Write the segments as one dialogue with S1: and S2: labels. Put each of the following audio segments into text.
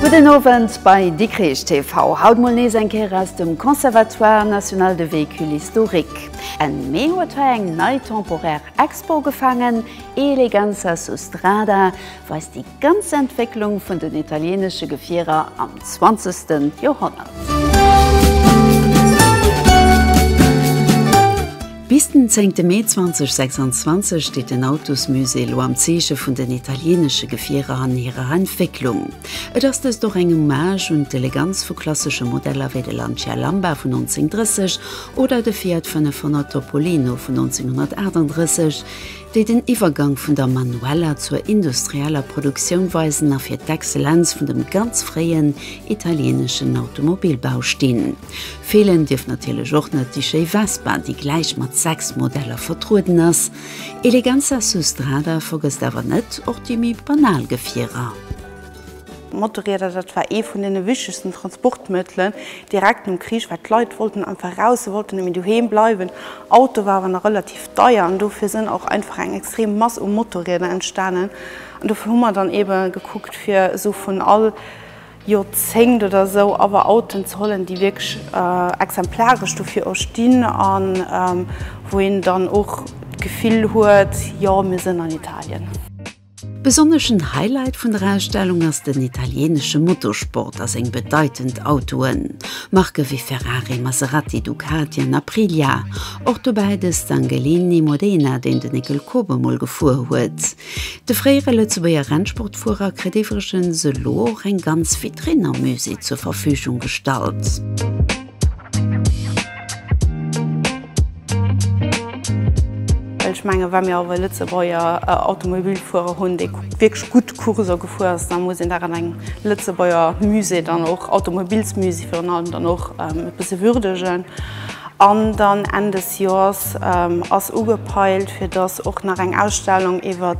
S1: Gudden Owend bei Dikrech TV. Haut mol nees eng Kéier aus dem Conservatoire National de Véhicules Historiques. Enn Mee huet hei eng nei temporaire Expo gefangen, Eleganza su strada weist déi ganz Entwécklung vun den italienesche Gefierer am zwanzegste Joerhonnert. Bis den zéngte Mee 2026 steet den Autosmusée elo am Zeeche vun den italienesche Gefierer an hirer Entwécklung. Et ass dëst och eng Hommage un d'Eleganz vu klassesche Modeller wéi de Lancia Lamba vun 1930 Oder de Fiat 500 Topolino vun 1938, déi den Iwwergank vun der manueller zur industrieller Produktioun weisen a fir d'Exzellenz vun dem ganz fréien italieeneschen Automobilbau stinn. Feelen dierf natierlech och net déi schéi Vespa, déi gläich mat sechs Modeller vertrueden ass. Eleganza su strada vergësst awer net och déi méi banal Gefierer. Motorrieder, dat war ee vun deene wichtegsten Transportmëttelen direkt nom Krich, well d'Leit wollten einfach raus, se wollten net méi doheem bleiwen. Auto war awer nach relativ deier an dofir sinn och einfach eng extrem Mass u Motorrieder entstanen an dofir hu mer dann eebe gekuckt, fir esou vun all Joerzéngt oder esou awer Autoen ze hollen, déi wierklech exemplaresch dofir och stinn a wou een dann och d'Gefill huet, jo, mir sinn an Italien. Besonneschen Highlight vun der Ausstellung ass den italieenesche Motorsport a seng bedeitend Autoen, Marke wéi Ferrari, Maserati, Ducati an Aprilia. Och dobäi de Stangelini Modena, deen den Nicole Koop emol gefuer huet. De fréiere Lëtzebuerger Rennsportfuerer kritt iwwregens elo och eng ganz Vitrinn am Musée zur Verfügung gestallt. Well ech mengen, wa mir awer e Lëtzebuerger Automobilfuerer hunn, dee wierklech gutt Course gefuer ass, da muss een dat an engem Lëtzebuerger Musée dann och, Automobilsmusée virun allem, dann och e bësse würdegen. An dann Enn des Joers ass ugepeilt, fir dass och nach eng Ausstellung iwwer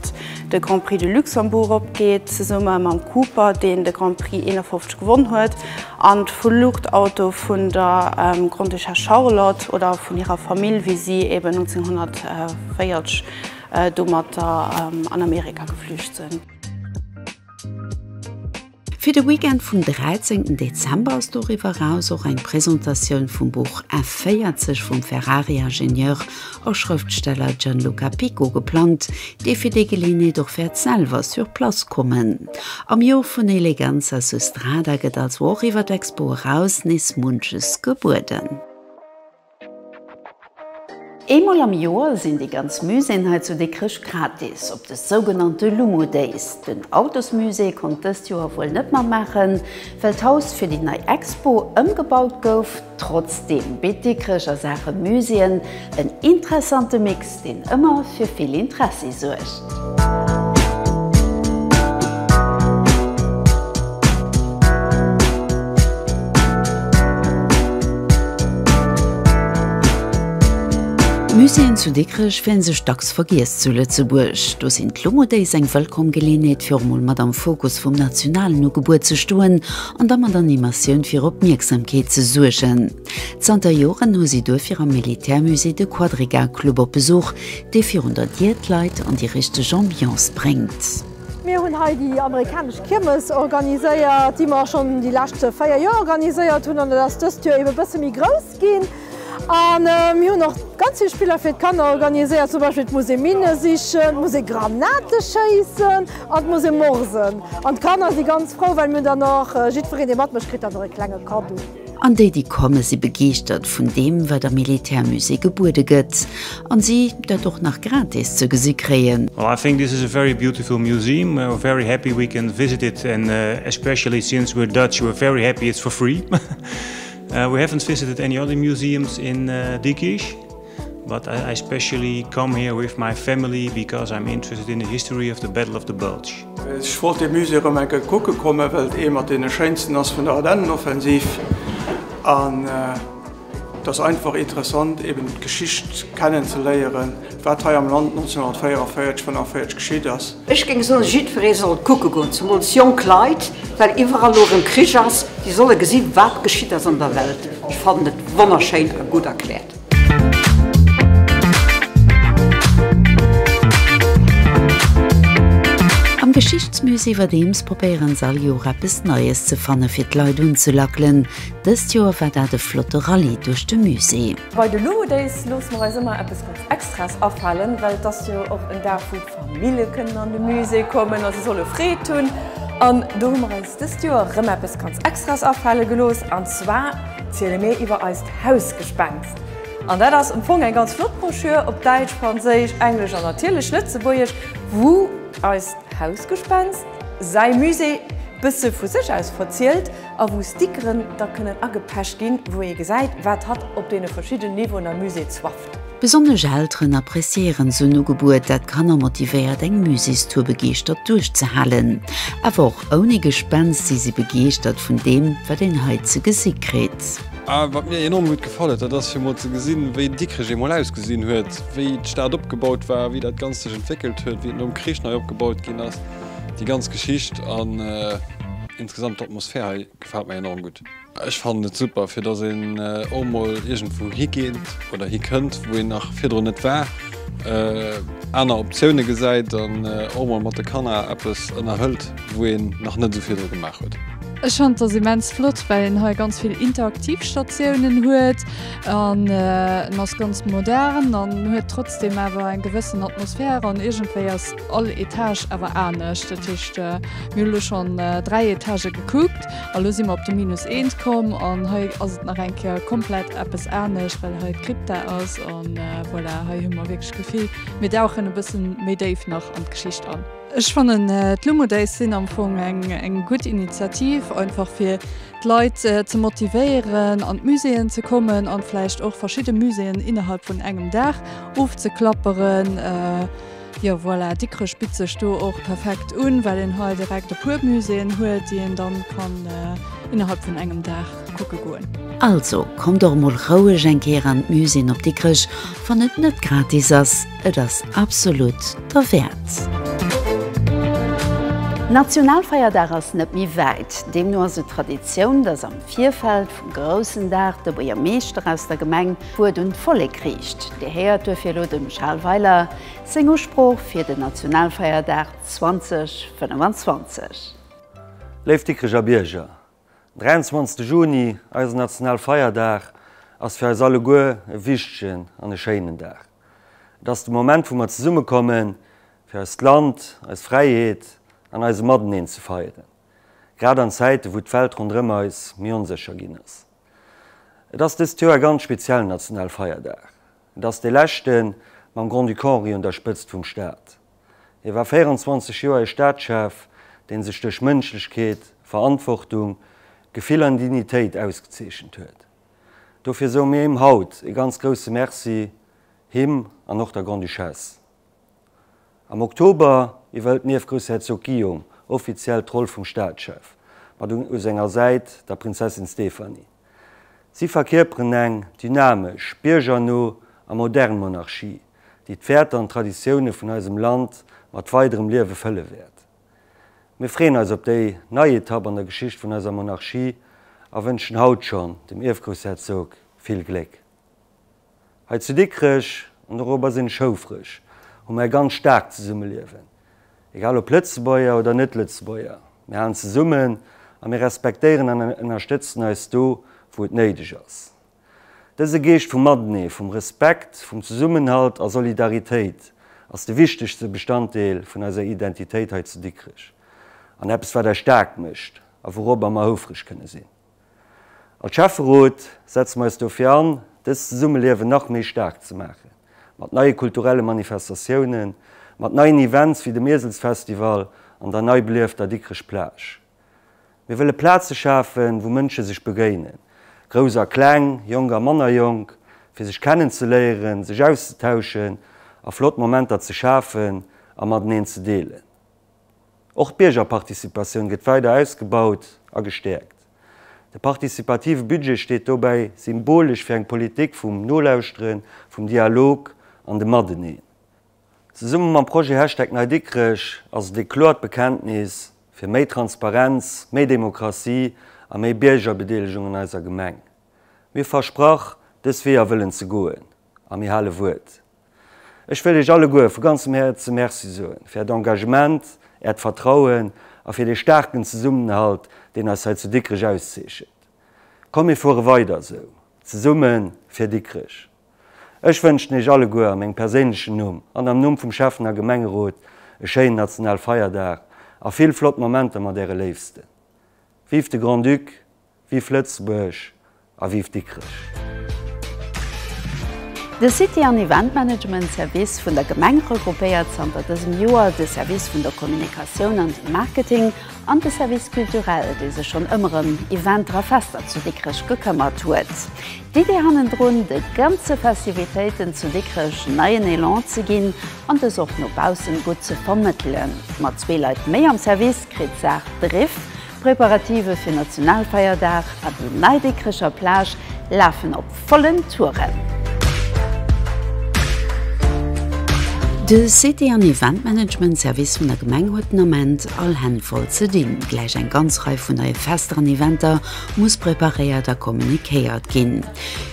S1: de Grand Prix de Luxembourg opgeet, zesumme mam Cooper, deen de Grand Prix 51 gewonn huet. An d'Fluchtauto vun der Grondduchesse Charlotte oder vun hirer Famill, wéi si eben 1940 domatter an Amerika geflücht sinn. Fir de Weekend vum 13 Dezember ass doriwwer eraus och eng Presentatioun vum Buch F40 vum Ferrari-Ingenieur a Schrëftsteller Gianluca Pico geplangt, dee fir déi Geleeënheet och wäert selwer sur place kommen. Am Joer vun Eleganza Sustrada gëtt also och iwwer d'Expo eraus nees munches gebueden. Eemol am Joer sinn déi ganz Muséeën hei zu Dikrech gratis op de sougenannte Lumo Days. Den Autosmusée konnt dëst Joer wuel net matmaachen, Well d'Haus fir déi nei Expo ëmgebaut gouf. Trotzdeem bitt Dikrech a Saache Muséeën en interessante Mix, deen ëmmer fir vill Interessi suergt. D'Muséeën zu Dikrech fillen sech dacks ze vergiess zu Lëtzebuerg. Do sinn d'Longo Days eng wëllkomm Geleenheet fir och mol mat am Fokus vum nationalen Ugebuer ze stoen an da mat Animatioun fir Opmierksamkeet ze suergen. Zanter Joren hu si duerfir am Militärmusée de Quadriga Club op Besuch, dee virun der Dier d'Leit an déi richteg Ambiance bréngt. Mir hunn hei déi amerikanesch Kiermes organiséiert, déi mer schonn déi lescht véier Joer organiséiert hunn an et ass dëst Joer ebe bësse méi grouss. ginn an mir hunn och ganz vill Spiller fir d'Kanner organiséiert, zum Beispill et muss ee Minne sichen, et muss ee Granate schéissen an et muss ee morsen. An d'Kanner si ganz frou, well mir hunn dann och, jiddwereen dee matmécht kritt dann och ee klenge Kaddo. An déi, déi komme si begeeschtert vun deem, wat am Militärmusée gebuede gëtt an si dat och nach gratis ze gesi kréien. Well I think this is a very beautiful museum, we're very happy we can visit it and especially since we're Dutch we're very happy it's for free. We have not visited any other museums in Dikrich, but I specially come here with my family because I'm interested in the history of the Battle of the Bulge. Ech wollt dee Musée erëm eng Kéier kucke kommen, well et ee mat deene schéinsten ass vun der Ardennenoffensiv an et ass einfach interessant, eben d'Geschicht kennenzeléieren, wat hei am Land 1944, 45 geschitt ass. Ech géing soen, jiddweree soll kucke goen, zemools jonk Leit, well iwwerall elo erëm Krich ass, déi solle gesi wat geschitt ass an der Welt. Ech fannen et wonnerschéin a gutt erkläert. Am Geschichtsmusée iwwerdeems probéiere se all Joer eppes Neies ze fanne fir d'Leit unzelackelen. Dëst Joer war dat e flotte Rallye duerch de Musée. Bei de Luvo Days loosse mer eis ëmmer eppes ganz Extraes afalen, well et ass jo och en Dag wou. D'Famille kënnen an de Musée kommen a se solle Freed hunn. An do hu mer eis dëst Joer rëm eppes ganz Extraes afale gelooss. An zwar ziele mir iwwer eist Hausgespenst. An dat ass am Fong eng ganz flott Broschür op Däitsch, Franséisch, Englesch an natierlech Lëtzebuergesch, wou eist Hausgespenst säi Musée bësse vu sech aus verzielt a wou Stickeren da kënnen agepecht ginn, wou ee gesäit, wat hatt op deene verschiddenen Niveauen am Musée Besonnesch Elteren appreciéieren esou en Ugebuet, dat d'Kanner motivéiert eng Muséestour begeeschtert duerchzehalen. Awer och ouni Gespenst si si begeeschtert vun deem, wat een hei ze gesi kritt. A wat mir enorm gutt gefall huet, dat ass fir emol ze gesinn, wéi Dikrech eemol ausgesinn huet, wéi d'Stad opgebaut war, wéi dat Ganzt sech entwéckelt huet, wéi et nom Krich nei opgebaut ginn ass, déi ganz Geschicht an insgesamt d'Atmosphär hei gefält mer enorm gutt. Ech fannen et super fir dass een och mol iergendwou higeet oder hikënnt wou een nach virdrun net war, aner Optioune gesäit an och mol mat de Kanner eppes ënnerhëlt wou een nach net esou virdru gemaach huet. Ech fannen dass immens flott well een hei ganz vill interaktiv Statiounen huet an en ass ganz modern an huet trotzdem awer eng gewëssen Atmosphär an iergendwéi ass all Etage awer anescht. Dat heescht mir hu lo schonn 3 Etagë gekuckt. A lo si mer op de Minus eent komm an hei ass et nach eng Kéier komplett eppes anescht, well hei d'Krypta ass. An voilà, hei hu mer wierklech d'Gefill, mir dauchen e bësse méi déif nach an d'Geschicht an. Ech fannen d'Lumo Days sinn am Fong eng gutt Initiativ, einfach fir d'Leit ze motivéieren an d'Muséeën ze kommen an vläicht och verschidde Muséeën innerhalb vun engem Dag ofzeklapperen. Jo voilà, Dikrech bitt sech do och perfekt un, well een hei direkt e puer Muséeën huet, déi een dann kann innerhalb vun engem Dag kucke goen. Also kommt och mol roueg eng Kéier an d'Muséeën op Dikrech, wann et net gratis ass, et ass absolut derwäert. Nationalfeierdag ass net méi wäit, deemno ass et Traditioun, dass am Virfeld vum groussen Dag de Buergermeeschter aus der Gemeng, D'Wuert un d'Vollek riicht. Dir héiert duerfir elo dem Charles Weiler seng Usprooch fir den Nationalfeierdag 2025. Léif Dikrecher Bierger, den 23 Juni, eisen Nationalfeierdag, ass fir eis alleguer e wichtegen an e schéinen Dag. Et ass de Moment, wou mer zesummekommen, fir eist Land, eis Fräiheet an eise Mateneen ze feieren, grad an Zäiten, wou d'Welt ronderëm eis méi onsécher ginn ass. Et ass dëst Joer e ganz speziellen national Feierdag. Et ass dee leschten, mam Grand-Duc Henri un der Spëtzt vum Staat. Hie war 24 Joer e Staatschef, dee sech duerch Mënschlechkeet, Verantwortung, Gefill an Dignitéit ausgezeechent huet. Dofir soe mir him haut e ganz grousse Merci, him an och der Grande-Duchesse. Am Oktober iwwerhëlt d'Nief Groussherzog Guillaume offiziell d'Roll vum Staatschef, mat u senger Säit der Prinzessin Stéphanie. Si verkierperen eng dynamesch, biergerno a modern Monarchie, déi d'Wäerter an d'Traditioune vun eisem Land mat weiderem Liewe fëlle wäert. Mir freeën eis op déi nei Etapp an der Geschicht vun eiser Monarchie a wënschen haut schonn dem Ierfgroussherzog vill Gléck. Hei zu Dikrech, an dorobber sinn ech houfreg, hu mer e ganz staarkt Zesummeliewen. Egal ob Lëtzebuerger oder Net-Lëtzebuerger, mir halen zesummen a mir respektéieren an ënnerstëtzen eis do, wou et néideg ass. Dëse Geescht vum Matenee, vum Respekt, vum Zesummenhalt a Solidaritéit ass de wichtegste Bestanddeel vun eiser Identitéit hei zu Dikrech an eppes, wat eis staark mécht a wourobber mer houfreg kënne sinn. Als Schäfferot setze mer eis dofir an, dëst Zesummeliewen nach méi staark ze maachen, mat neie kulturelle Manifestatiounen, mat neien Events wéi dem Ieselsfestival an der nei beliefter Dikrech Plage. Mir wëlle Plaze schafen, wou Mënsche sech begéinen, Grouss a Kleng, Jonk a manner Jonk, fir sech kennenzeléieren, sech auszetauschen a flott Momenter ze schafen a mateneen ze deelen. Och d'Biergerparticipatioun gëtt weider ausgebaut a gestäerkt. De participative Budget steet dobäi symbolesch fir eng Politik vum Nolauschteren, vum Dialog an dem Mateneen. Zesumme mam Projet Hashtag NeiDikrech ass et ee kloert Bekenntnis fir méi Transparenz, méi Demokratie a méi Biergerbedeelegung an eiser Gemeng. Mir versprach, dës Weeër wëllen ze goen a mir hale Wuert. Ech wëll Iech alleguer vu ganzem Häerze Merci soen, fir Äert Engagement, Äert Vertrauen a fir dee staarken Zesummenhalt, deen eis hei zu Dikrech auszeechent. Komm mir fuere weider esou, zesumme fir Dikrech! Ech wënschen Iech alleguer a mengem perséinlechen Numm an am Numm vum Schäffnener Gemengerot e schéinen Nationalfeierdag a vill flott Momenter mat Äre Léifsten. Vive de Grand-Duc Vive Lëtzebuerg a vive Dikrech! De City an Event Management Service vun der Gemeng regroupéiert zanter dësem Joer de Service vun der Kommunikatioun an dem Marketing an de Service Culturel, dee sech schonn ëmmer ëm Eventer a Fester zu Dikrech gekëmmert huet. D'Idee hannendrun, de ganze Festivitéiten zu Dikrech neien Elan ze ginn an dës och no baussen gutt ze vermëttelen. Mat zwee Leit méi am Service kritt d'Saach Driff, D'Preparative fir Nationalfeierdag a déi nei Dikrecher Plage lafen op vollen Touren. De City an Event Management Service vun der Gemeng huet den Ament all Hänn voll ze dinn. Gläich eng ganz Rei vun neie Fester an Eventer muss preparéiert a kommunikéiert ginn.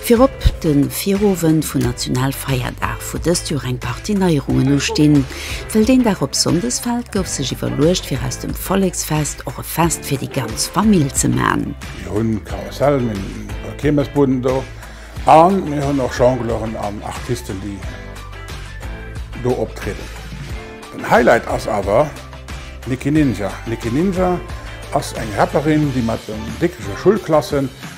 S1: Virop de Virowend vun Nationalfeierdag, wou dëst Joer eng Partie Neierungen ustinn. Well deen Dag op Sonndes fält, gouf sech iwwerluecht fir aus dem Volleksfest och e Fest fir déi ganz Famill ze man. Mir hunn Karussellen, mir hu Kiermesbuden do a mir hunn och Jongleuren an Artisten, déi do optrieden. Den Highlight ass awer d'Nicky Ninja. D'Nicky Ninja ass eng Rapperin, déi mat den Dickecher Schulklassen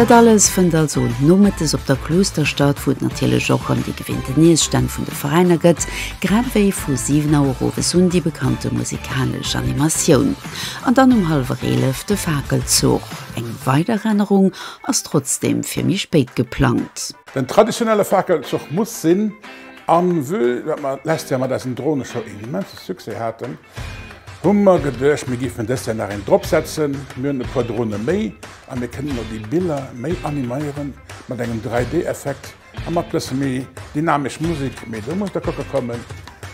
S1: Dat alles fënnt also nomëttes op der Kloosterstadt, wou et natierlech och ëm déi gewinnten Iesstänn vun de Veräiner gëtt, grad ewéi vu 7 Auer owes un déi bekannte musikalesch Animatioun an dann um hallwer 11 de Fakelzuch. Eng weider Rennerung ass trotzdeem fir méi spéit geplangt. Den traditionelle Fakelzuch muss sinn an vue datt mer d'lescht Joer mat eisen Droneshow een immense Succès haten, Hun mer geduecht mir giffen des Jahr nach een drop setzen. Mir hun e puer Drohne méi an mir kënnen lo déi Biller méi animeieren mat engem 3D Effekt an mat bessen méi dynamesch Musik. Mee do muss der kocke kommen,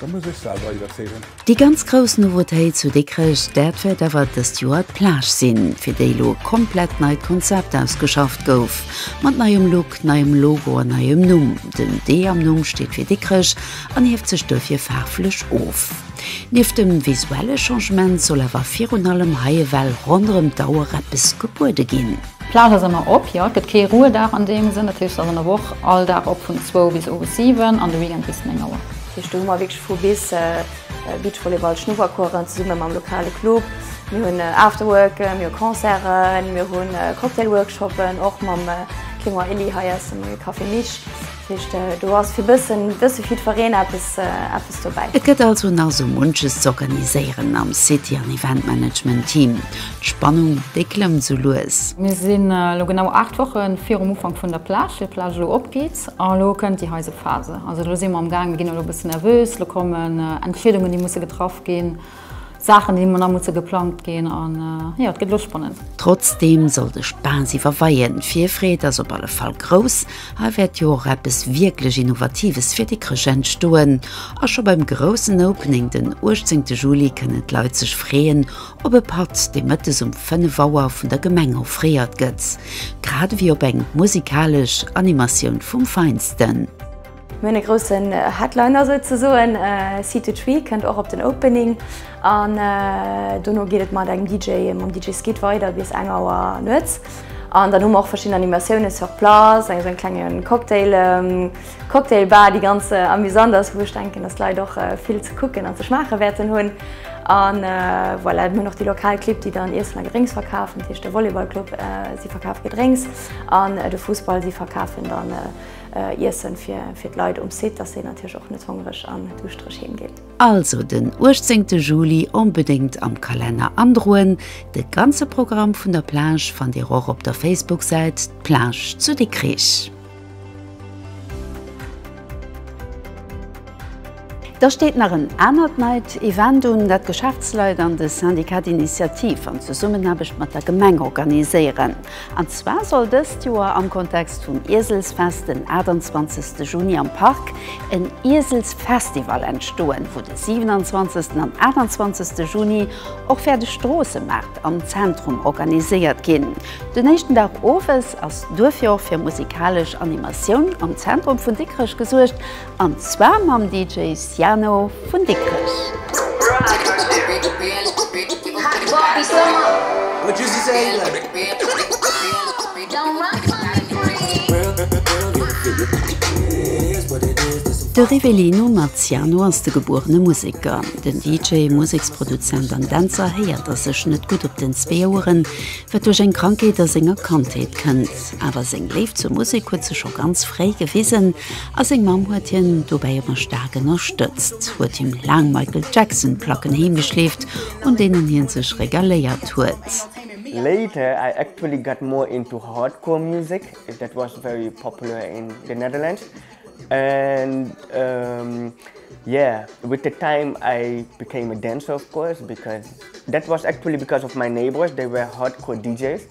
S1: der muss ech selwer iwerzeegen. Déi ganz grouss Nouveautéit zu Dikrech, dat wärt awer dest Joer d'Plage sin, fir déi lo e komplett neit Konzept ausgeschafft gouf. Mat neiem Look, neiem Logo an neiem Numm. Den D am Numm steet fir Dikrech an hieft sech duerfir faarflech of. Nieft dem visuelle Changement soll awer virun allem hei ewell ronderëm d'Auer eppes gebuede ginn. D'Plaz ass ëmmer op, jo, et gëtt kee Ruhedag an deem Sënn, dat heescht se ass an der Woch all Dag op vun zwou bis owes siwen an de Weekend bis néng Auer. Dat heescht do hu mer wierklech vu bis, Beachvolleyball, Schnuppercoursen zesumme mam lokale Club, mir hunn Afterworken, mir hu Concerten, mir hu Cocktailworkshoppen och mam Clément Elie hei aus dem Café Mich. Do ass fir bëssen bësse jiddwereen eppes eppes dobäi. Et gëtt also nach esou munches z'organiséieren am City an Event Management Team. D'Spannung, déi klëmmt esou lues. Mir sinn elo genau 8 Woche virum Ufank vun der Plage, fir d'Plage elo opgeet. An elo kënnt déi heise Phase. Also elo si mer am Gaang, mir ginn elo e bësse nervös, elo kommen Entscheedungen, déi musse getraff ginn. Saachen déi nach musse geplangt ginn an jo et gëtt elo spannend. Trotzdeem soll de Spaass iwwerweien, d'Virfreed ass op alle Fall grouss. Hei wäert jo och eppes wierklech Innovatives fir Dikrech entstoen a scho beim groussen Opening den 18 Juli kënnen d'Leit sech freeën op e Patt dee mëttes um 5 Auer vun der Gemeng offréiert gëtt, grad ewéi op eng musikalesch Animatioun vum Feinsten. Mir hunn e groussen Headliner souzesoen, C2Tree kënnt och op den Opening an dono geet et mat engem DJ, mam DJ Skid weider bis eng Auer nuets an dann hu mer och verschidden Animatiounen sur place, eng esou eng klenge Cocktail, Cocktail Bar déi ganz amusant ass, wou ech denken, datt d'Leit och vill ze kucken an ze schmaache wäerten hunn an voilà. Mir hunn och déi lokal Clibb, déi dann Iessen a Gedrénks verkafen, dat heescht de Volleyball Club, si verkafe Gedrénks an de Fussball, si verkafen dann Iessen fir d'Leit um Site, dass si natierlech och net hongreg an duuschtereg heem ginn. Also den 18 Juli onbedéngt am Kalenner androen. De ganze Programm vun der Plage fannt Dir och op der Facebook-Säit D'Plage zu Dikrich. Da steet nach en anert neit Event un, dat d'Geschäftsleit an de Syndicat d'Initiative an Zesummenaarbecht mat der Gemeng organiséieren. An zwar soll dëst Joer am Kontext vum Ieselsfest den 28 Juni am Park en Ieselsfestival entstoen, wou de 27 an 28 Juni och wäert e Stroossemaart am Zentrum organiséiert ginn. Den éischten Dag owes ass duerfir och fir musikalesch Animatioun am Zentrum vun Dikrech gesuergt. An zwar mam DJ Siano vun Dikrech. De Rivelino mat Siano ass de gebuerene Museker. Den DJ, Museksproduzent an Dänzer héiert a sech net gutt op den zwee Oueren, wat duerch eng Krankheet a senger Kandheet kënnt. Awer seng Léift zur Musek huet sech scho ganz fréi gewisen. A seng Mamm huet hien dobäi ëmmer staark ënnerstëtzt, huet him laang Michael Jackson Placken heem geschleeft, un deenen hien sech regaléiert huet. Later I actually got more into hardcore music that was very popular in the Netherlands and yeah with the time I became a dancer of course because that was actually because of my neighbours they were hardcore DJs.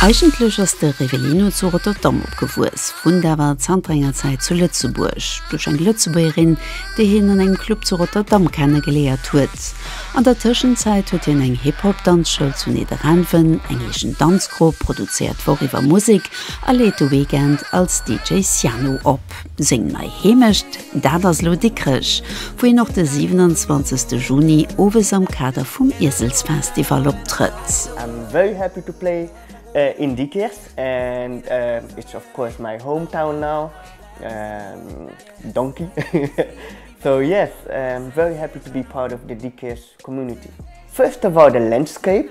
S1: Eigentlech ass de Rivellino zu Rotterdam opgewuess, wunnt awer zanter enger Zäit zu Lëtzebuerg. Duerch eng Lëtzebuergerin, déi hien an engem Club zu Rotterdam kennegeléiert huet. An der Tëschenzäit huet hien eng Hip-Hop-Danzschoul zu Nidderaanwen, eng eegen Danzgrupp, produzéiert d'Woch iwwer Musek a leet de Weekend als DJ Sianu op. Seng nei Heemecht? Dat ass elo Dikrech, wou een och de 27 Juni owes am Kader vum Ieselsfestival optrëtt. I'm very happy to play in Dikrech and it's of course my home town now Donkey so yes I'm very happy to be part of the Dikrech community. First of all the landscape.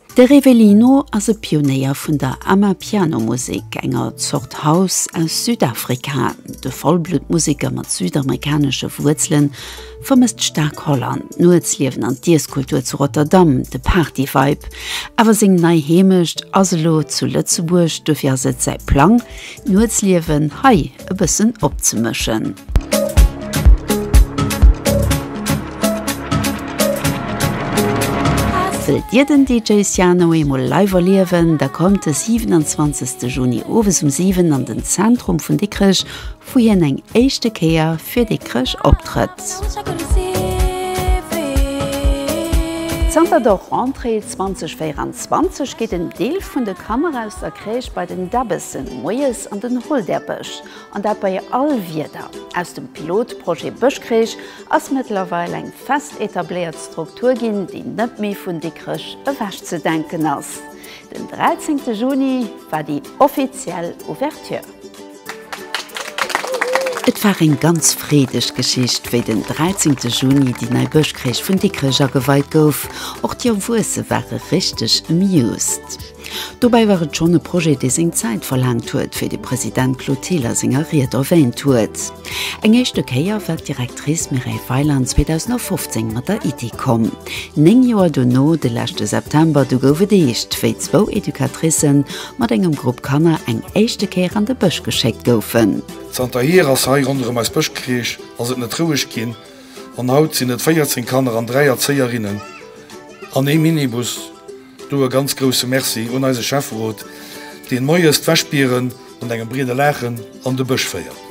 S1: De Revelino ass e Pionéier vun der Amapiano-Musek, enger Zort House aus Südafrika. De Vollblutt-Museker mat südamerikanesche Wuerzelen vermësst staark Holland, d'Nuetsliewen an d'Iesskultur zu Rotterdam, de Party-Vibe. Awer seng nei Heemecht ass elo zu Lëtzebuerg, dofir ass et säi Plang, Nuetsliewen hei e bëssen opzemëschen. Wëllt Dir den DJ Siano eemol live erliewen, da kommt de 27. Juni owes um 7 an den Zentrum vun Dikrech, wou hien eng éischte Kéier fir Dikrech optrëtt. Zanter der Rentrée 2024, 20 geet en Deel vun de Kanner aus der Crèche bei den Debbessen moies an den Holderbësch, an dat bei all Wieder. Aus dem Pilotprojet Bëschcrèche ass mëttlerweil eng fest etabléiert Struktur ginn, déi net méi vun Dikrech ewech ze denken ass. Den 13 Juni war déi offiziell Ouverture. Et war eng ganz freedeg Geschicht, wéi den 13 Juni déi nei Bëschkréich vun Dikrech ageweit gouf. Och déi Erwuesse ware richteg amused. Dobäi war et schonn e Projet, dee seng Zäit verlaangt huet, wéi de President Claude Thill a senger Ried erwäänt huet. Eng éischte Kéier war d'Directrice Mireille Weiland 2015 mat der Iddi komm. Néng Joer dono, de leschte September, du gouf et eescht, wéi zwou Educatricen mat engem Grupp Kanner eng éischte Kéier an de Bësch geschéckt goufen. Zanterhier ass hei ronderëm eis Bëschkreesch ass et net roueg ginn an haut sinn et 14 Kanner an 3 Erzéierinnen an ee Minibus. Do e ganz grousse Merci un eise Schäfferot, deen moies d'Wäschbieren mat engem breede Laachen an de Bësch féiert.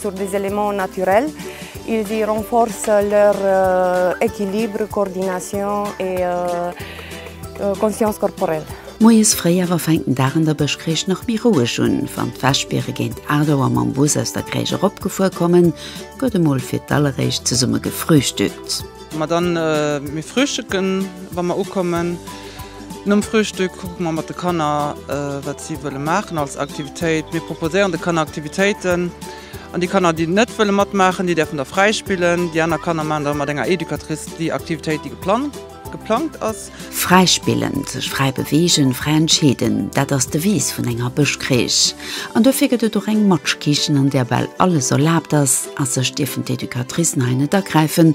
S1: Sur des éléments naturels, ils y renforcent leur équilibre, coordination et conscience corporelle. Moies fréi awer fänkt den Dag an der Bëschkréischt nach méi roueg un. Wann d'Wäschbiere géint 8 Auer mam Bus aus der Kréischt eropgefuer kommen, gëtt emol fir d'alleréischt zesumme gefrühstückt. Ma dann, mir frühstücken wa mer ukommen. Nom Frühstück kucke mer mat de Kanner, wat si wëlle maachen als Aktivitéit. Mir proposéieren de Kanner Aktivitéiten an déi Kanner, déi net wëlle matmaachen, déi däerfen da fräi spillen. Déi aner Kanner maachen da mat enger Educatrice déi Aktivitéit, déi geplangt ass. Fräi spillen, sech fräi beweegen, fräi entscheeden, dat ass d'Devise vun enger Bëschcrèche. An dofir gëtt et och eng Matschkichen, an där bal alles erlaabt ass a sech dierfen d'Educatricen hei net agräifen.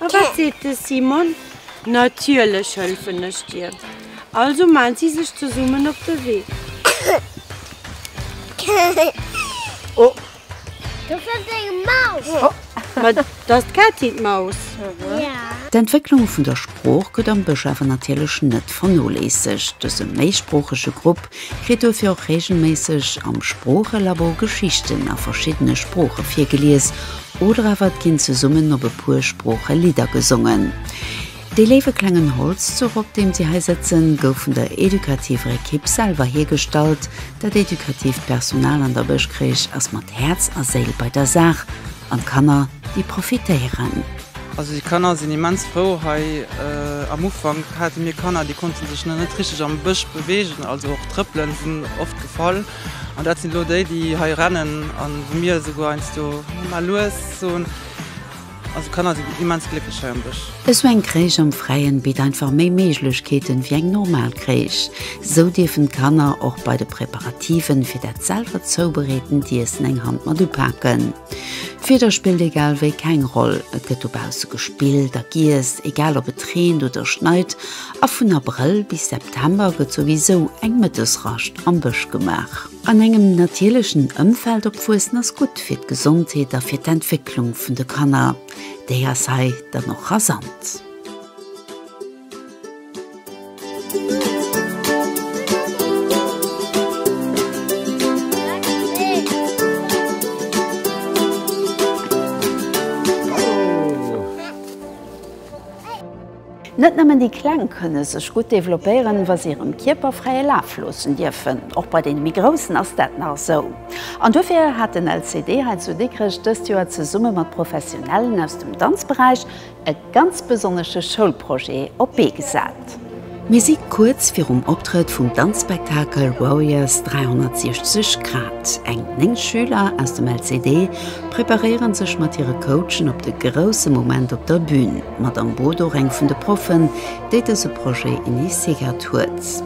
S1: A wat seet de Simon? Natierlech hëlfen ech dir! Also maan si sech zesummen op de Wee. D'Entwécklung vun der Sprooch gëtt am Bësch awer natierlech net vernoléissegt. Dëse méisproochege Grupp Kritt dofir och reegelméisseg am Sproochelabo Geschichten a verschiddene Sprooche virgelies oder awer et ginn zesummen op e puer Sprooche Lidder gesongen. Dee léiwe klengen Holzzuch, op deem si hei sëtzen, gouf vun der edukativer Ekipp selwer hiergestallt. Dat edukatiivt Personal an der Bëschkrich ass mat Häerz a Séil bei der Saach an d'Kanner, déi profitéieren. Also déi Kanner sinn immens frou hei. Am Ufank hate mir Kanner, déi konnte sech nach net richteg am Bësch beweegen, also och Trëppelen sinn oft gefall. An dat sinn elo déi, déi hei rennen an wou mir esouguer heiansdo Mama lues soen. Also d'Kanner sinn immens glécklech hei am Bësch. Esou eng Crèche am Fräien bitt einfach méi Méiglechkeeten wéi eng normal Crèche. Esou dierfen d'Kanner och bei de Preparativen fir dat selwer zoubereetend Iessen eng Hand mat upaken. D'Wieder spillt egal wéi keng Roll, et gëtt dobausse gespillt a giess, egal ob et reent oder schneit, a vun Abrëll bis September gëtt souwisou eng Mëttesrascht am Bësch gemaach. An engem natierlechen Ëmfeld opwuessen ass gutt fir d'Gesondheet a fir d'Entwécklung vun de Kanner, déi ass hei dann och rasant. Net nëmmen déi Kleng kënne sech gutt developpéieren, wa se hirem Kierper fräie Laf loossen dierfen. Och bei deene méi Groussen ass dat nach esou. An dofir hat den LCD hei zu Dikrech dëst Joer zesumme mat Professionellen aus dem Danzberäich E ganz besonnesche Schoulprojet op d'Bee gesat. Mir si kuerz virum Optrëtt vum Danzspektakel Warriors 360 Grad. Eng 9 Schüler aus dem LCD preparéiere sech mat hire Coachen op de grousse Moment op der Bün. D'Madame Bodor, eng vun de Proffen, déi dëse Projet initiéiert huet.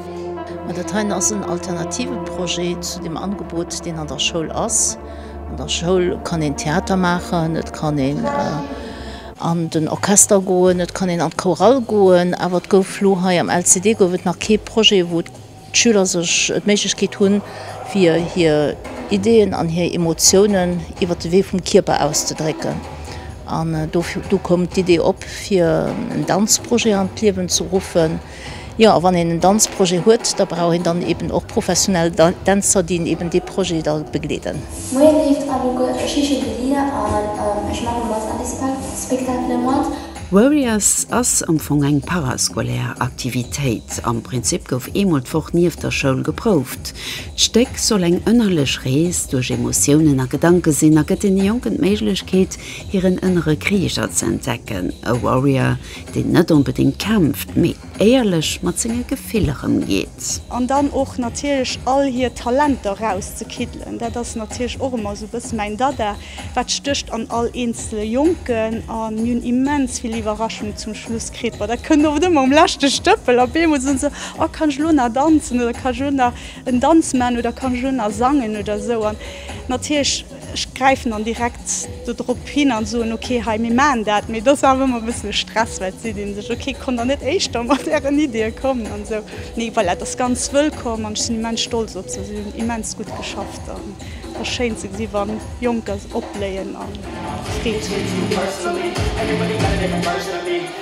S1: Ma dat heien ass en alternative Projet zu deem Angebot, deen an der Schoul ass. An der Schoul kann een Theater maachen, et kann een an den Orchester goen, et kann een an d'Chorale goen. Awer et gouf elo hei am LCD gouf et nach kee Projet, wou d'Schüler sech d'Méiglechkeet hunn, fir hir Ideeën an hir Emotiounen iwwer de Wee vum Kierper auszedrécken. An do koum d'Idee op, fir en Danzprojet an d'Liewen ze ruffen. Jo, a wann een en Danzprojet huet, da brauch een dann eben och professionell Dänzer, déi eben dee Projet da begleeden. Moien leeft alleguer, ech heesche Delia an ech maache mat an de Spectaclen mat. Warriors ass am Fong eng parascolaire Aktivitéit. Am Prinzip gouf eemol d'Woch nieft der Schoul geprouft. D'Stéck soll eng ënnerlech Rees duerch Emotiounen a Gedanke sinn a gëtt deene Jonken d'Méiglechkeet, hiren ënnere Krieger ze entdecken. E Warrior deen net onbedéngt kämpft, mee éierlech mat senge Gefiller ëmgeet. An dann och natierlech all hir Talenter erauszekiddelen, dat ass natierlech och ëmmer esou e bësse mäin Dada, wat stécht an all eenzele Jonken an mir hunn immens vill Iwwerraschung zum Schluss kritt. Bon, dat kënnt oft ëmmer um leschte Stëppel, op eemol soen se, oh kann ech elo nach danzen oder kann ech elo nach en Danz maachen oder kann ech elo nach sangen oder esou an natierlech, Ech gräifen dann direkt do drop hin an soen, ok hei mir maachen dat. Mee et ass awer ëmmer e bëssen e Stress, well d'Sidd een sech, ok konnt der net éischter mat ären Iddie kommen an esou. Mee voilà, et ass ganz wëllkomm an ech sinn immens stolz op se. Si hunn immens gutt geschafft an et ass schéin ze gesi wann Jonker opbléien a Freed hunn, hir Iddie mat ze maachen.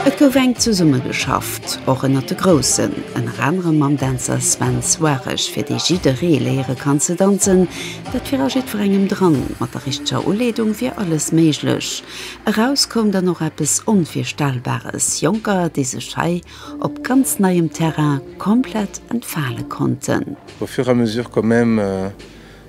S1: Et gouf enk zesumme geschafft, och ënnert de Groussen, ënner anerem mam Dänzer Sven Soares, fir dee jidderee léiere kann ze danzen, dat fir a jiddwerengem dran. Mat der richteger Uleedung wier alles méiglech. Eraus koum dann och eppes Onvirstellbares, Jonker, déi sech hei op ganz neiem Terrain komplett entfale konnten. Au fur et à mesure quand même.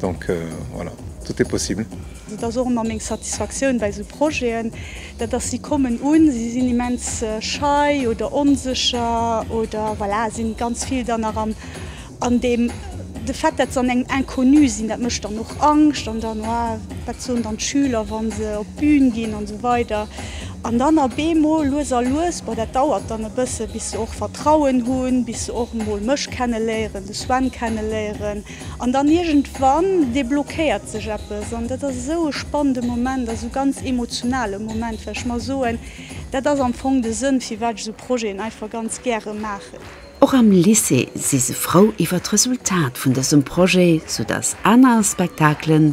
S1: Donc voilà, tout est possible. Dat ass och ëmmer meng Satisfaktioun bei esou Projeten, dat ass, si kommen un, si sinn immens schei oder onsécher oder voilà, sinn ganz vill dann nach am an deem de Fait, dat se an engem Inconnu sinn, dat mécht dann och Angscht an dann ah wat soen dann d'Schüler, wa se op d'Bün ginn an esou weider an dann a bemol lues a lues, bon dat dauert dann e bësse bis se och Vertrauen hunn, bis se och emol mech kenneléieren, de Sven kenneléieren. An dann iergendwann deblockéiert sech eppes an dat ass esou e spannende Moment, esou e ganz emotionale Moment, well ech mer soen, dat ass am Fong de Sënn, firwat ech esou Projeten einfach ganz gäre maachen. Och am Lycée si se frou iwwer d'Resultat vun dësem Projet, soudass aner Spektakelen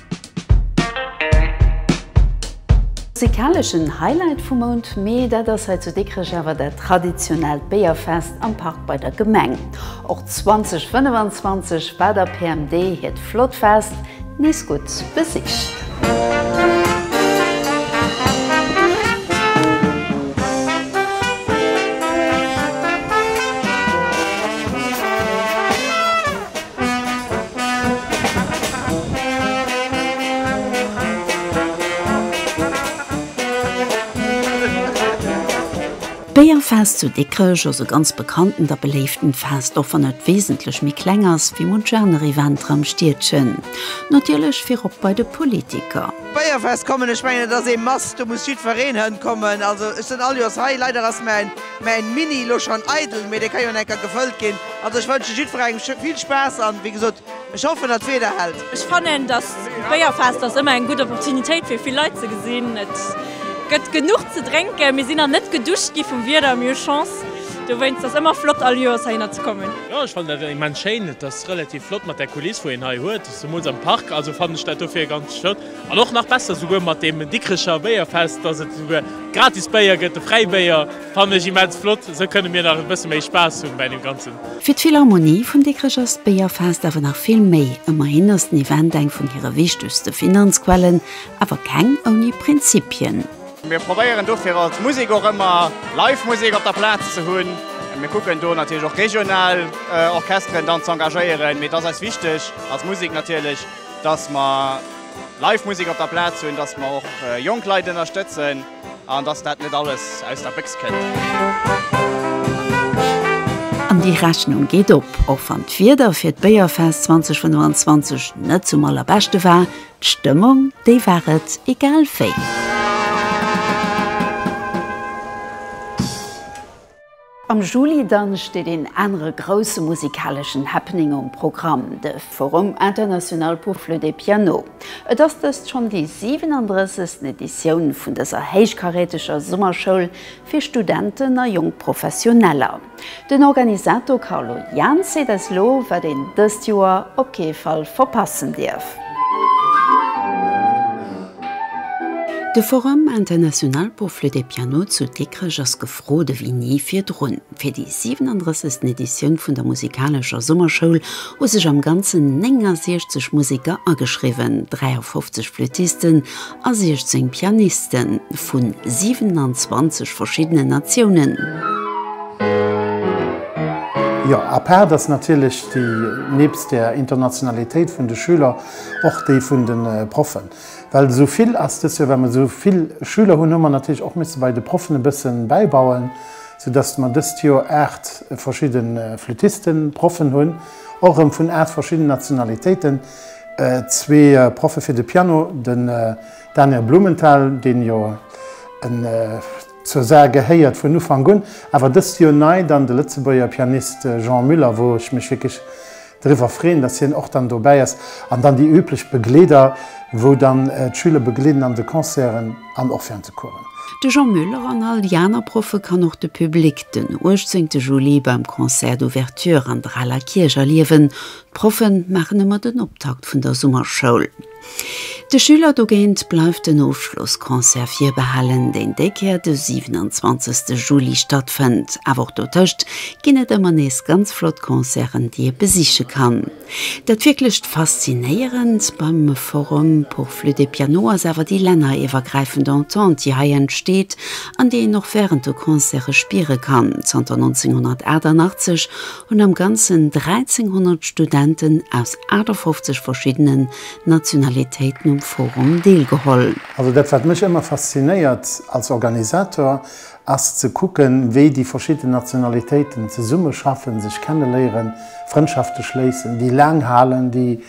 S1: Musikaleschen Highlight vum Mount Mee, dat ass hei zu Dikrech awer dat traditionellt Béierfest am Park bei der Gemeng. Och 2025 war der PMD hiert flott Fest nees gutt besicht. D'Béierfest zu Dikrech ass e ganz bekanntent a beléiften Fest, och wann et wesentlech méi kleng ass wéi munch aner Eventer am Stiedchen. Natierlech virop bei de Politiker. D'Béierfest kommen, ech mengen et ass ee must, do muss jiddwereen hënkommen, also ech sinn all Joers hei, leider ass mäin. Mäin Mini lo schon eidel, mee dee ka jo en enker gefëllt gin. Also ech wënschen jiddferengem vill Spaass an wéi gesot ech hoffen dat d'Weder hält. Ech fannen dass d'Béierfest ass ëmmer eng gutt Opportunitéit fir vill Leit ze gesinn. Et gëtt genuch ze drénken. Mir sinn nach net geduscht gi vum Wieder, mee hu Chance. Dowéinst ass ëmmer flott all Joers heihinner ze kommen. Jo ech fannen dat immens schéin. Et ass relativ flott mat där Kuliss wou een hei huet, zumools am Park. Also fannen ech dat dofir ganz flott. An och nach besser souguer mat deem Dikrecher Béierfest, dass et souguer gratis Béier gëtt, de Fräibéier, fannen ech immens flott. Esou kënne mir nach e bësse méi Spaass hu bäi deem Ganzen. Fir d'Philharmonie vun Dikrech ass d'Béierfest awer nach vill méi. Ëmmerhin ass den Event eng vun hire wichtegste Finanzquellen, awer keng ouni Prinzipien. Mir probéieren dofir als Musek och ëmmer live Musek op der Plaz ze hunn. Mir kucken do natierlech och regional Orchesteren dann ze engagéieren, mee et ass eis wichteg als Musek natierlech, dass mer live Musek op der Plaz hunn, dass mer och jonk Leit ënnerstëtzen an dass dat net alles aus der Béchs kënnt. An déi Rechnung geet op, och wann d'Wieder fir d'Béierfest 2025 net zum allerbeschte war, d'Stëmmung déi war et egal wéi. Am Juli dann steet een anere grousse musikaleschen Happening um Programm, de Forum international pour flûte et piano. Et ass dëst schonn déi 37. Editioun vun dëser héichkaräteger Summerschoul fir Studenten a jonk Professioneller. Den Organisator Carlo Jahn seet eis lo, wat een dëst Joer op kee Fall verpassen dierf. De Forum international pour flûte et piano zu Dikrech ass. D'Fro de wéi ni virdrun. Fir déi 37. Editioun vun der musikalescher Summerschoul hu sech am Ganzen 69 Museker ageschriwwen, 53 Flüttisten a 16 Pianiste vu 27 verschiddenen Natiounen. Jo, à part dass natierlech déi, nebst der Internationalitéit vun de Schüler, och déi vun de Proffen. Well esou vill ass dës Joer, well mer esou vill Schüler hunn, hu mer natierlech och misse bei de Proffen e bësse bäibauen, sou dass mer dëst Joer aacht verschidde Flüttisten, Proffen hunn, och erëm vun aacht verschiddenen Nationalitéiten, zwee Proffe fir de Piano, den Daniel Blumenthal, deen jo zur Saar gehéiert vun Ufank un, awer dëst Joer nei dann de Lëtzebuerger Pianist Jean Müller, wou ech mech wierklech Driwwer freen, dass hien och dann dobäi ass an dann déi üblech Begleeder, wou dann d'Schüler begleeden an de Concerten an och während de Coursen. De Jean Muller an all déi aner Proffe kann och de Public den 18 Juli beim Concert d'Ouverture an der Aler Kierch erliewen. D'Proffe maachen ëmmer den Optakt vun der Summerschoul. De Schüler dogéint bleift den Ofschlossconcert virbehalen, deen déi Kéier de 27 Juli stattfënnt. Awer och dotëscht ginn et ëmmer nees ganz flott Concerten, déi ee besiche kann. Dat wierklecht Faszinéierend beim Forum pour Flütt et Piano ass awer déi länneriwwergräifend Entente, déi hei entsteet an déi een och wärend de Concerte spiere kann. Zanter 1988 hunn am Ganzen 1.300 Studenten aus 58 verschiddenen Nationalitéiten um Forum deelgeholl. Also dat wat mech ëmmer faszinéiert als Organisator ass ze kucken, wéi déi verschidden Nationalitéiten zesummeschaffen, sech kenneléieren, Frëndschafte schléissen, déi laang halen, déi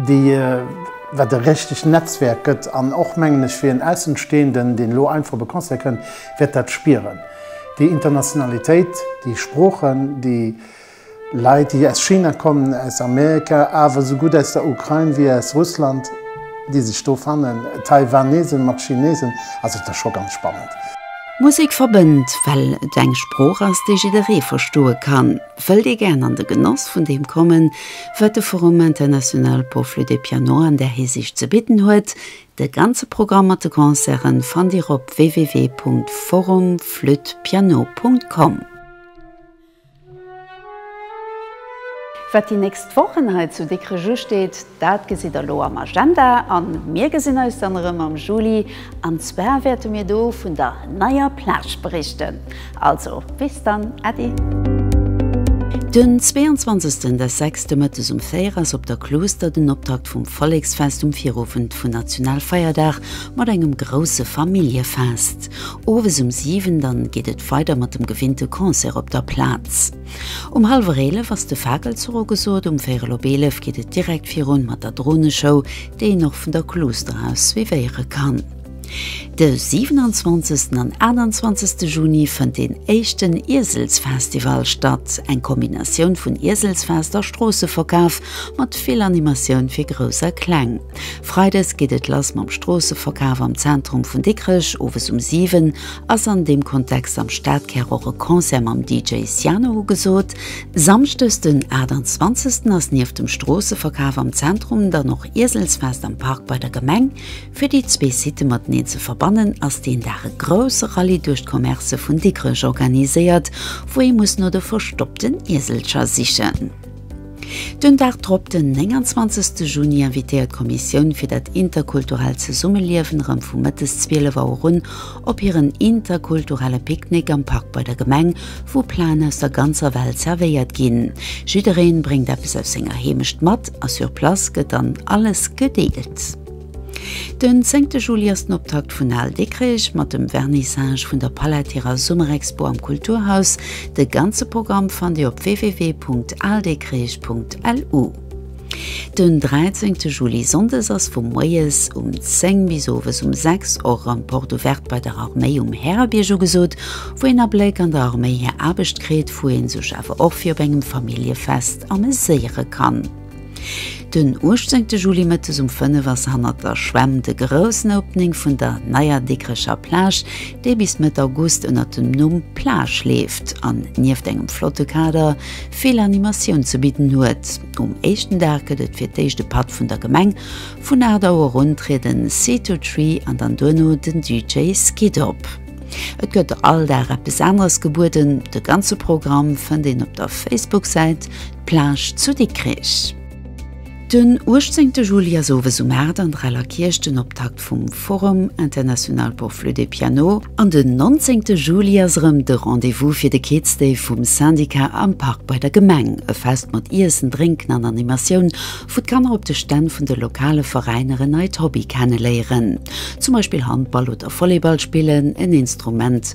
S1: déi wat e richtegt Netzwerk gëtt an och mengen ech fir en Aussenstehenden, deen elo einfach op e Concert kënnt, wäert dat spieren, déi Internationalitéit, déi Sproochen, déi Leit, déi aus China kommen, aus Amerika, awer esou gutt aus der Ukrain wéi aus Russland, déi sech do fannen, Taiwanesen mat Chinesen, also et ass scho ganz spannend. Musek verbënnt, well et eng Sprooch ass, déi jidderee verstoe kann. Wëllt ee gären an de Genoss vun deem kommen, wat de Forum international pour flûte et piano an där Hisiicht ze bidden huet? De ganze Programm mat de Concerten fannt Dir op www.forumflütpiano.com. Wat déi nächst Wochen hei zu Dikrech usteet? Dat gesitt der elo am Agenda a mir gesinn eis dann erëm am Juli an zwar wäerte mir do vun der neier Plage berichten. Also bis dann, Äddi! Den 22 des sechste Mëttes um 4 ass op der Klooster den Optakt vum Volleksfest um Virowend vun Nationalfeierdag mat engem grousse Familljefest. Owes um 7 dann geet et weider mat dem gewinnte Concert op der Plaz. Um hallwer 11 ass de Fakelzuch ugesot, um véirel op 11 geet et direkt virun mat der Droneshow, déi een och vun der Kluuster aus suivéiere kann. De 27 an 28 Juni fënnt deen éischten Ieselsfestival statt, eng Kombinatioun vun Ieselsfest a Stroosseverkaf mat vill Animatioun fir Grouss a Kleng. Freides geet et lass mam Stroosseverkaf am Zentrum vun Dikrech. Owes um 7 ass an deem Kontext am Stadkär och e Concert mam DJ Siano ugesot. Samschdes den 28 ass nieft dem Stroosseverkaf am Zentrum dann och Ieselsfest am Park bei der Gemeng. Fir déi zwee Sitë mateneen ze verbannen ass deen Dag e grousse Rallye duerch d'Commercë vun Dikrech organiséiert, wou ee muss no de verstoppten Ieselcher sichen. Den Dag drop, den 29 Juni, invitéiert d'Kommissioun fir dat interkulturellt Zesummeliewen erëm vu mëttes 12 Auer un op hiren interkulturelle Picknick am Park bei der Gemeng, wou Plaen aus der ganzer Welt zerwéiert ginn. Jiddereen bréngt eppes aus senger Heemecht mat a sur place gëtt dann alles gedeelt. Den zéngte Juli ass den Optakt vun Al Dikrech mat dem Vernissage vun der Palätirer Summerexpo am Kulturhaus. De ganze Programm fannt Dir op www.aldikrech.lu. Den dräizéngte Juli, Sonndes, ass vu moies um 10 bis owes um 6 och en Porte ouverte bei der Arméi um Härerbierg ugesot, wou een Abléck an der Arméi hir Aarbecht kritt, wou ee sech awer och fir op engem Familljefest ameséiere kann. Den 18 Juli Mëttes um 5 ass hannert der Schwämm de groussen Opening vun der neier Dikrecher Plage, déi bis Mëtt August ënnert dem Numm Plage leeft an nieft engem flotte Kader vill Animatioun ze bidden huet. Um éischten Dag gëtt et fir d'éischt e Patt vun der Gemeng. Vun 8 Auer un trieden Seetotree an dann duerno den DJ Skid op. Et gëtt all Dag eppes aneres gebueden. De ganze Programm fënnt een op der Facebook-Säit. Plage zu Dikrech. Den 18 Juli ass owes um 8 an der Eller Kierch den Optakt vum Forum international pour flûte et piano an den 19 Juli ass erëm de Rendez-vous fir de Kids Day vum Syndicat am Park bei der Gemeng. E Fest mat Iessen, Drénken an Animatioun, wou d'Kanner op de Stänn vun de lokale Veräiner en neit Hobby kenneléieren, zum Beispill Handball oder Volleyball spillen, en Instrument,